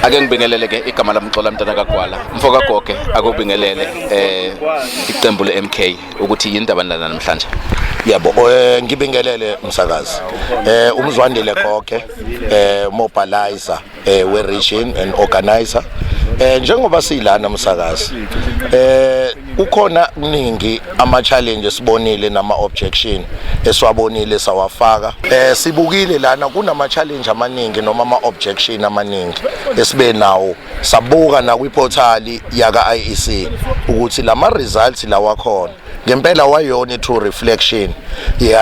ake ngibingelele ke igama lamxola mntana kagwala mfo kagoge akubingelele eh iqembu le-mk ukuthi yini ndaba nilana namhlanje yebo eh ngibingelele msakazi eh umzwandile goge eh mobilizer eh we region and organizer eh njengoba silana msakazi eh ukhona kuningi ama challenge sibonile nama objection esiwabonile sawafaka eh sibukile lana kunama challenge amaningi noma ama objection amaningi esibe nawo sabuka na kwi portal yaka IEC ukuthi lama results lawakhona ngempela wayona i-true reflection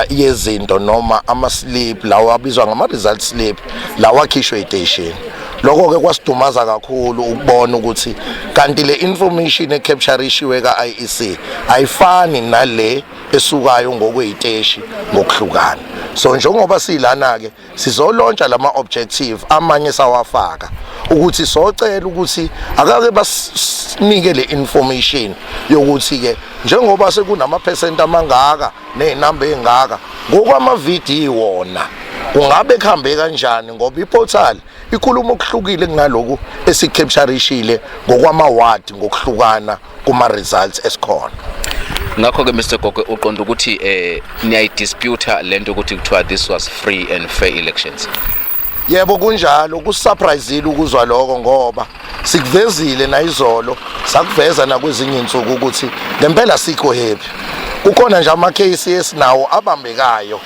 yezinto noma ama-slip lawa abizwa ngama-result slip lawa akhishwe iteshini lokho ke kwasidumaza kakhulu ukubona ukuthi kanti le information ecapture ishiwe ka IEC ayifani nale esukayo ngokweziteshi ngokuhlukana so njengoba silana ke sizolontsha lama objective amanye sawafaka ukuthi socela ukuthi akake basinike le information yokuthi ke njengoba sekunama percent amangaka nezinamba ezingaka ngokwama video wona kungabe kuhambe kanjani ngoba iportal ikhuluma okuhlukile kunaloku esikepsharishile ngokwama ward ngokuhlukana kuma results esikhona ngakho ke Mr Gogo uqonda ukuthi eh niyayi dispute lento ukuthi kuthiwa this was free and fair elections yebo kunjalo kusurprisile ukuzwa lokho ngoba sikuvezile nayizolo sakuveza nakwezinye insuku ukuthi ngempela sikho happy kukhona nje ama case esinawo abambekayo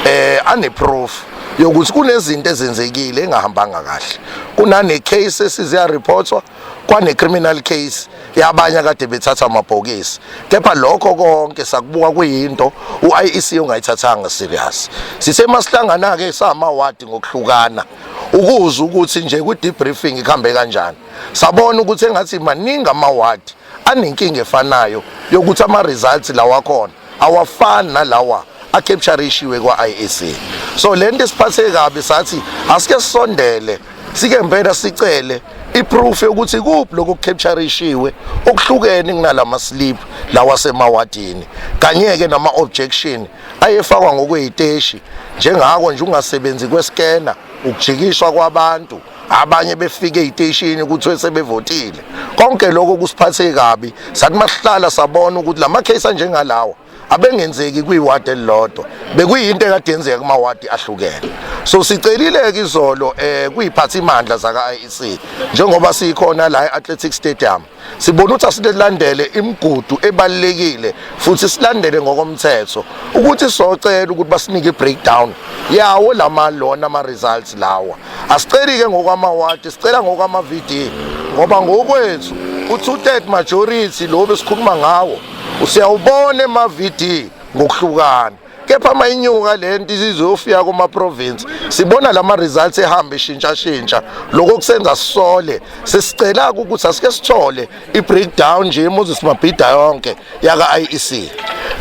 eh ane proof yokuthi kunezinto ezenzekile engahambanga kahle kunane case esiziya reportwa kwane-criminal case yabanye akade bethatha amabhokisi kepha lokho konke sakubuka kuyinto u-iec ungayithathanga serious sithe masihlangana-ke samawadi ngokuhlukana ukuze ukuthi nje kwi-debriefing ikuhambe kanjani sabona ukuthi engathi maningi amawadi anenkinga efanayo yokuthi ama-results lawakhona awafani nalawa acapturishiwe kwa-IEC so le nto esiphathe kabi sathi asike sisondele sike mpela sicele iproof yokuthi kuphi lokho kucapturishiwe okuhlukene kunalama slip lawa semawadini kanye ke nama objection ayefakwa ngokweziteshi njengako nje ungasebenzi kwescanner ukujikiswa kwabantu abanye befike eziteshini kuthiwe sebevotile konke lokho kusiphathe kabi sathi masihlala sabona ukuthi lama case anjengalawa abengenzeki kwiward elilodwa bekuyinto ekade yenzeka kuma ward ahlukene so sicelile ke izolo eh kuyiphathimandla zaka IEC njengoba sikhona la eAthletic Stadium sibona ukuthi asilandele imigudu ebalekile futhi silandele ngokomthetho ukuthi socela ukuthi basinike breakdown yawo lama lona ama results lawa asiceli ke ngokwama ward sicela ngokwama VD ngoba ngokwethu u two third majority lo besikhuluma ngawo usiyawubona ema VD ngokuhlukana kepha uma inyuka le nto izizofika kuma-province sibona la ma-results ehamba ishintshashintsha lokho kusenza sisole sesicela-ke ukuthi asike sithole i-breakdown nje imoses mabhida yonke yaka-i e c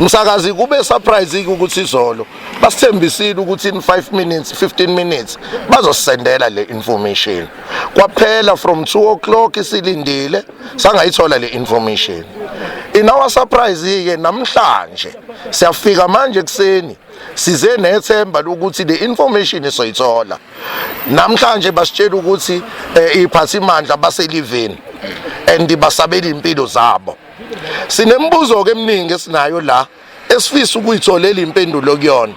msakazi kube surprise-ke ukuthi izolo basithembisile ukuthi in 5 minutes 15 minutes bazosisendela le information kwaphela from 2 o'clock isilindile sangayithola le information in our surprise-ke namhlanje siyafika manje kuseni size nethemba lokuthi le information esoyithola namhlanje basitshela ukuthi eh, iphathimandla baseliveni and basabela impilo zabo sinemibuzo ke eminingi esinayo la esifisa ukuyitholela impendulo kuyona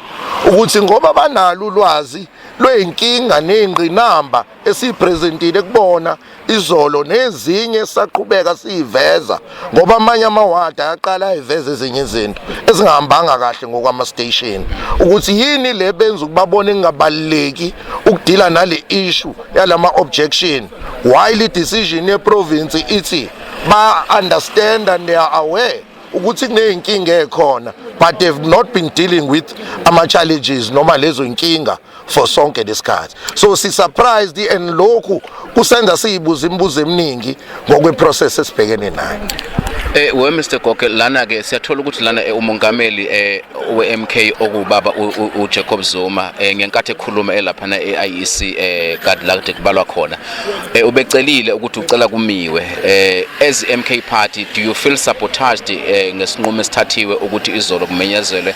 ukuthi ngoba banalo ulwazi lweyinkinga nezingqinamba esiyipresentile kubona izolo nezinye saqhubeka siyiveza ngoba amanye amawadi ayaqala ayiveza ezinye izinto ezingahambanga kahle ngokwama station ukuthi yini le benza ukubabona engabaleki ukudila nale issue yalama objection why le decision ye province ithi ba understand and they are aware ukuthi kuneyinkinga ekhona but they've not been dealing with ama challenges noma lezo inkinga for sonke lesikhathi so si surprised and lokhu kusenza siyibuza imibuzo eminingi ngokwe process esibhekene nayo Eh we Mr Goke lana ke siyathola ukuthi lana eh, umongameli eh we MK okubaba uJacob Zuma eh, ngenkathi ekhuluma elapha na eIEC eh kade la kade kubalwa khona eh ubecelile ukuthi ucela kumiwe eh as MK party do you feel sabotaged eh ngesinqumo esithathiwe ukuthi izolo kumenyezelwe